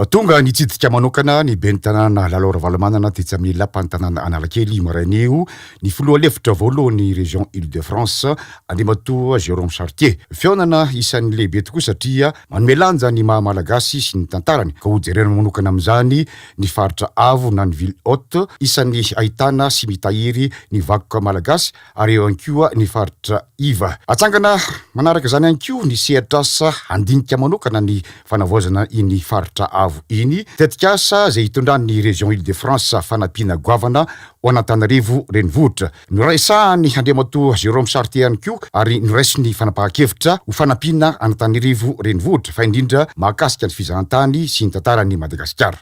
Tonga nitsidika manokana ny ben'ny Tanàna Lalao Ravalomanana tetsy amin'ny Lapan'ny Tanàna Analakely io maraina io ny Filoha lefitra voalohan'ny Région Île-de-France, Andriamatoa Jérôme Chartier. Fihaonana isan'ny lehibe tokoa satria manome lanja ny maha Malagasy sy ny tantarany ka hojerena manokana amin'izany ny faritra avo na ny ville haute isan'ny ahitana sy mitahiry ny vakoka malagasy ary eo ihany koa ny faritra iva. Atsangana manaraka izany ihany koa ny sehatr'asa handinika manokana ny fanavaozana iny faritra avo iny, tetikasa izay itondran'ny Région Île-de-France fanampiana goavana ho an'Antananarivo Renivohitra. Noraisahan'i Andriamatoa Jérôme Chartier ihany koa ary noraisin'ny fanapahan-kevitra ho fanampiana an'Antananarivo Renivohitra fa indrindra mahakasika ny fizahantany sy ny tantaran'i Madagasikara.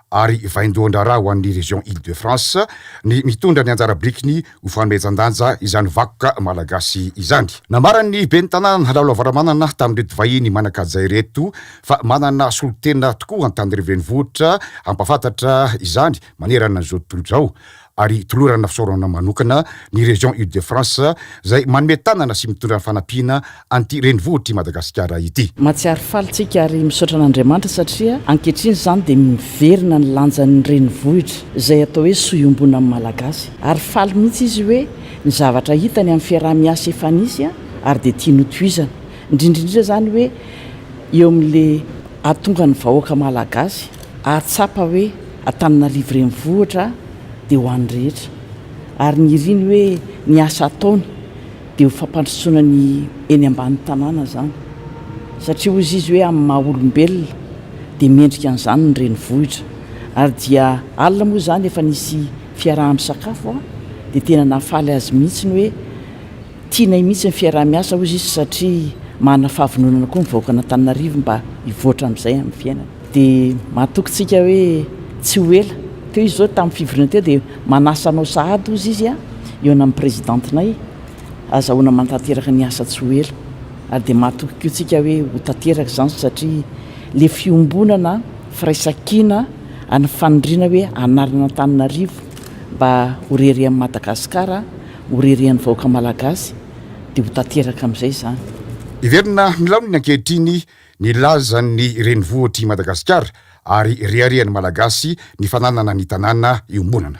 ary vaindohan-draharaha ho an'ny Région Île-de-France ny mitondra ny anjara birikiny ho fanomezan-danja izany vakoka malagasy izany. Nambaran'ny Ben'ny Tanàna Nhalalo Ravalomanana tamin'ireto vahiny manan-kaja ireto fa manana solontena tokoa Antanireo Renivohitra hampahafantatra izany manerana izao tontolo izao ary hitolorana fisaorana manokana ny Région Ile-de-France izay manome tanana sy mitondra ny fanampiana an'ity renivohitr'i Madagasikara ity. Mahatsiaro faly tsika ary misaotra an'Andriamanitra satria ankehitriny izany dia miverina ny lanjan'ny renivohitra izay atao hoe soa iombonan'ny Malagasy. Ary faly mihitsy izy hoe ny zavatra hitany amin'ny fiaraha-miasa efa nisy ary dia tiany hotohizana, indrindra indrindra izany hoe eo amin'ilay. Ahatonga ny vahoaka Malagasy ahatsapa hoe Antananarivo Renivohitra dia ho an'ny rehetra ary ny iriny hoe ny asa ataony dia ho fampandrosoana ny eny ambany tanàna izany satria hoy izy hoe amin'ny maha olombelona dia mendrika an'izany ny renivohitra ary dia alina moa izany efa nisy fiaraha-misakafo dia tena nahafaly azy mihitsy ny hoe Tianay mihitsy ny fiaraha-miasa hoy izy satria manana fahavononana koa ny vahoakan'Antananarivo mba hivoatra amin'izay amin'ny fiainany. Dia matoky tsika hoe tsy ho ela. Teo izy zao tamin'ny fivoriana teo dia manasa anao sahady hozy izy a! Eo namin'ny Prezidantinay, azahoana manatanteraka ny asa tsy ho ela. Ary dia matoky koa tsika hoe ho tanteraka izany satria le fiombonana firaisan-kina ary ny faniriana hoe hanarina Antananarivo mba ho rery amin'i Madagasikara, Ho ririan'ny vahoaka malagasy dia ho tanteraka amin'izay izany. Hiverina amin'ny laoniny ankehitriny ny lazan'ny renivohitr'i Madagasikara ary reharehan'ny Malagasy ny fananana ny tanàna iombonana.